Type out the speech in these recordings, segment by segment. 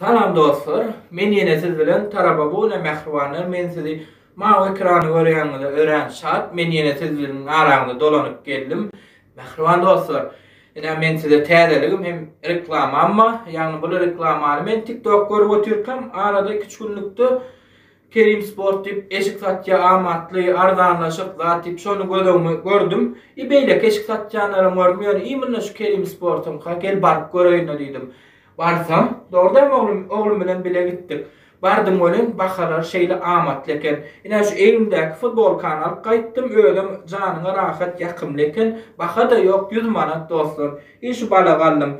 Salam dostlar men ýene siz bilen Tarababune mähribanlar men sizi mawy ekrany görýäňize örän şat men ýene sizliň araňyza dolanyp geldim mähriban dostlar ine men size täzeligim hem reklamamma ýagny bul reklamany men tik tok görüp otyrkam arada iki üç günlükde Kerim sport diýip eşik satýa amatly arzanlaşyk zat diýip şony göz öňüme gördüm i beýleki eşik satýanlaram gördüm ýöne imynna şu Kerim sportyňka gel baryp göreýinle diýdim. Barsam, dogrudanam oglum, oglum bilen bile gitdik. Bardym welin, bahalar şeýle amatly eken. Ine, şu elimdäki futbolkany alyp gaýtdym, özem janyňa rahat, ýakymly eken. Baha-da ýok, ýüz manat, dostlar. Iý, şu bala galdym.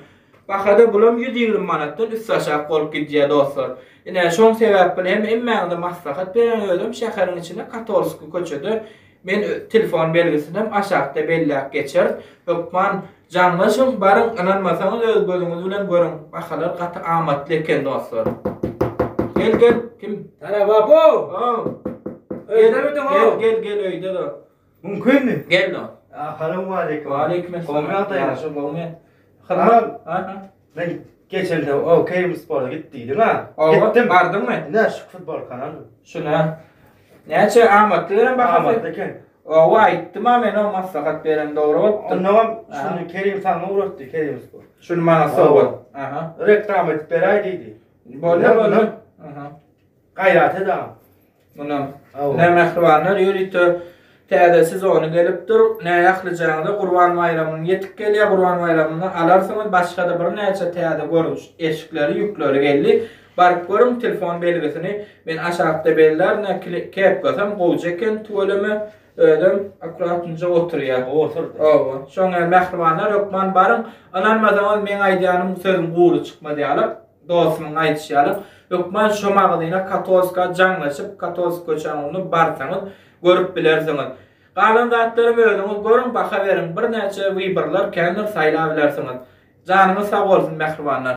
Baha-da bulam ýüz ýigrimi manatdan üstaşak bolup gidýär, dostlar. Ine, şoň sebäpli hem hemmäňize maslahat berýän, özem şäheriň içinde Katolskiý köçede Men öz telefon belgisinem aşakda belläp geçeris. Hökman jaňlaşyň baryň ynanmasaňyz öz gözüňiz bilen görüň. Bahalar gaty amatly eken dostlar. Gel gel kim? Sara babo. Ow. Öýdemidiň ow? Gel gel gel öýde do. Mümkinmi? Gel do. Assalamu aleýkum. Waleýkim esselam. Gowmy ýagdaýyňyz? Ýagşy gowmy? Hyzmat. Aha. Men geçende o Kerim spora git diýdiň-ä. Oba, bardyňmy? Ine, şu futbolkany aldym. Şuna. Näçe amatly welin bahasy? Amatly eken. Oba, aýtdym-a men o maslahat beren dogry bolupdyr. Onnoňam şuny Kerim saňa ugratdy, Kerim spor. Şuny maňa sowgat. Aha. Reklama edip beräý diýdi. Bolýa, bolýa. Aha. Gaýrat ed-ä. Mundan nä mähribanlar ýörite täze sezony gelip dur, nä ählijaňyza Gurban baýramyň ýetip gelýär, Gurban baýramynda alarsyňyz, başga-da birnäçe täze görnüş eşikleri, ýükleri geldi. Baryp görüň, telefon belgisini men aşakda bellär, nä kepkasam gowja eken, tüweleme özem akuratnje oturýa. Oturdy. Hawa. Şoňa mähribanlar hökman baryň, ynanmasaňyz meň aýdýanym sözüm gury çykmaz ýaly. Dostumyň aýdyşy ýaly, hökman şo magazyna Katowska jaňlaşyp, Katowsk köçäniň ugruna barsaňyz, görüp bilersiňiz. Galan zatlaram özüňiz görüň, baha beriň. Birnäçe wyborlar, kändir saýlabilersiňiz. Janyňyz sag bolsun, mähribanlar!